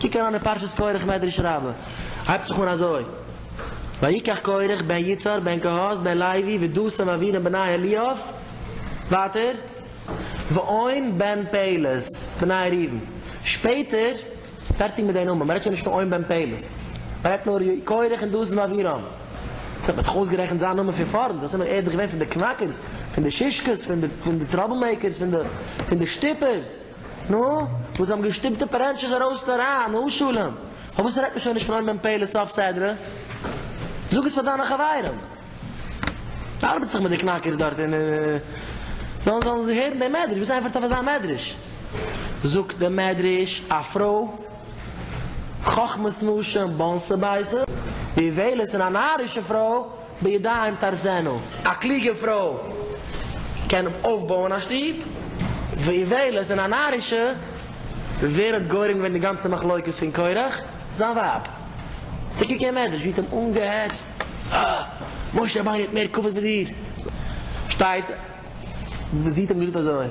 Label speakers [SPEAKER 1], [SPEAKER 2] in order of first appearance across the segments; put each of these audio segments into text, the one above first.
[SPEAKER 1] קוק אריין אין פרשת קרח מדרש רבה הייבט זיך אן אזוי ויקח קרח בן יצהר בן קהת בן לוי ודוסה ואבירם בני אליאב, ווייטער, ועון בן פלת, בני ראובן. שפעטער, פערטיג מיט די נאמען, מען רעדט שוין נישט פון עון בן פלת, מען רעדט נאר יהוי קרח און דוד און אבירם. ס'האט מען דאך אויסגערעכנט זיין נאמען פון פארנט, דאס איז מען, ער איז דאך געווען פון די קנאקערס, פון די שישקעס, פון די טראבל מעיקערס, פון די שטופערס, נו, וואס האבן געשטופט די פארענטשעס ארויס און אריין, נו שלום, פארוואס רעדט מען שוין נישט פון עון בן פלת סוף סדרה? זאג עס פאר דיינע חברים. ארבעט זיך מיט די קנאקערס דארט און זאלן זאלן זיי הערן דעם מדרש, וואס ענטפערט אויף אזא מדרש? זאגט דער מדרש, א פרוי חכמת נשים באונס א בית, ויבלת און א נארישע פרוי בידיים תהרסנה. א קלוגע פרוי קען אויפבויען א שטוב, ואיוולת און א נארישע ווערט גורם געווען די גאנצע מחלוקת פון קורח זיין ווייב. ס'געגעבן עדות ווי ט'האט אנגעהעצט אה משה רבינו האט מער כבוד ווי דיר שטייט ווי זי האט אים געזאגט אזוי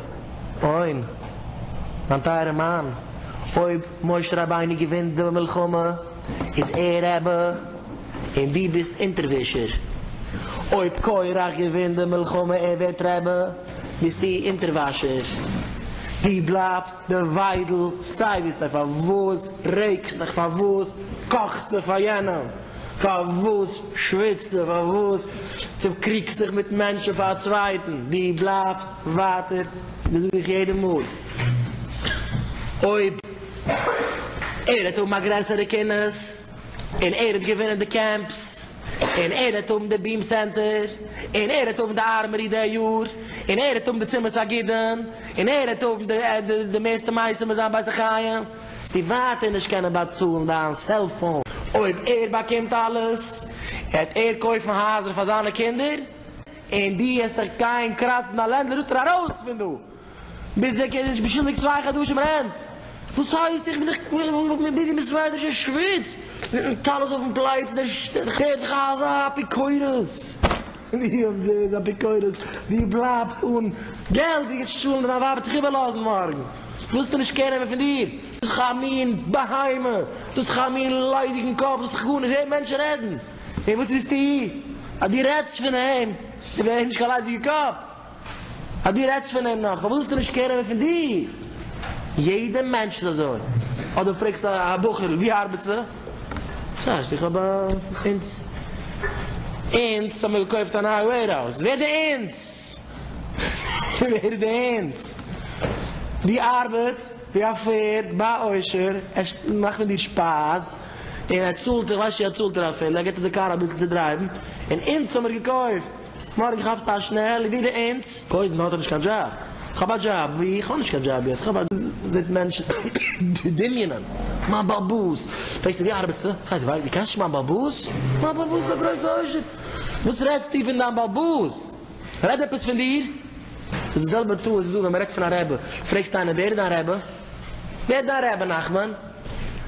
[SPEAKER 1] אוין מיין טייערע מאן אויב משה רבינו געווינט די מלחמה איז ער רעבע און דו ביסט אונטערווישער אויב קורח געווינט די מלחמה ער ווערט רעבע ביסטו אונטערוואשער דו בלייבסט די וויידל, סיי ווי סיי, פארוואס רעגסטעך, פארוואס קאכסטע פאר יענעם, פארוואס שוויצטע, פארוואס צוקריגסטעך מיט מענטשן פאר א צווייטן, די בלייבסט ווייטער, דאס זאג איך יעדע מאל, אויב ער וועט האבן א גרעסערע קינוס. און ער האט געווינען די קעמפס, און ער העט האבן די ביעם סענטער, און ער העט האבן די ארמערי די יאר, און ער העט האבן די צימעס הגידין, און ער העט האבן די מערסטע מעשים אין זיין בית החיים, וועסטו ווייטער נישט קענען באצאלן דיין סעלפאון. אויב ער באקומט אלעס, העט ער קויפן הייזער פאר זיינע קינדער, און דו העסט דיך גיין קראצן דיין לענדלארד אראויס פון דא. ביז דער קינד איז באשולדיגט צוויי חדשים רענט! וואס הייסט איך בין דאך ביזי מיט סוועטערס און שוויץ מיטן טלית אויפן פלייץ דער שטערט ח ז אפיקורס! די אויף די איז אפיקורס די בלייבסט אן געלט די גייסט צאלן און דיין ווייב וועט דיך איבערלאזן מארגן ווילסטו נישט קער נעמען פון דיר ביזט דאך א מין בהמה דו האסט דאך א מין ליידיגן קאפ זאלסט דאך גארנישט הערן מענטשן רעדן און וואס ווילסטו אז דו רעדסט פון אים איז ער נישט קיין ליידיגע קאפ? אז דו רעדסט פון אים נאך, ווילסטו נישט קער נעמען פון דיר, יעדע מענטש איז אזוי, אדער פרעגסט א בחור'ל ווי ארבעטסטו, ס'הייסט איך האב א אונס, אונס האמיר געקויפט א נייע וועירהאוז, ווער איז די אונס? ווער איז די אונס? דו ארבעטס ווי א פערד ביי א עושר, ער מאכט מיט דיר שפייז, און ער צאלט דיר, ווייסט שוין אז ער צאלט דיר אפילו, ער גיבט דיר די קאר אביסל צו דרייוון, און אונס האמיר געקויפט. מארגן כאפסטו א שנעל איבער די אונס. קודם האט ער נישט קיין דזשאב. כ'האב א דזשאב ווי? כ'האב נישט קיין דזשאב יעצט. כ'האב א דזשאב זעט מענטשן דמיונ'ען מיין בעל באס. פרעגסטו ווי ארבעטסטו? פרעגט ער ווייסט דו קענסט נישט מיין בעל באס? מיין בעל באס איז א גרויסע עושר. וואס רעדסטו פון דיין בעל באס? רעד עפעס פון דיר. ס'איז די זעלבע טעות איז דא ווען מ'רעדט פון א רבי. פרעגסט איינעם ווער איז דיין רבי? ווער איז דיין רבי נחמן?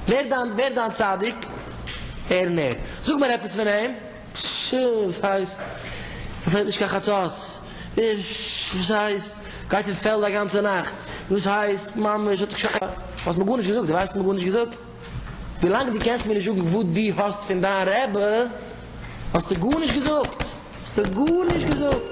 [SPEAKER 1] ווער איז דיין צדיק? ער און ער. זאג מיר עפעס פון אים. פששש וואס הייסט? ס'פעלט נישט קיין חצות? פששש וואס הייסט? גייט אין פעלד א גאנצע נאכט? וואס הייסט? ממש האט זיך שוין פאר. האסט מיר גארנישט געזאגט, דו ווייסט האסט מיר גארנישט געזאגט? ווילאנג דו קענסט מיר נישט זאגן וואס דו האסט פון דיין רעבע, האסטו גארנישט געזאגט! האסטו גארנישט געזאגט!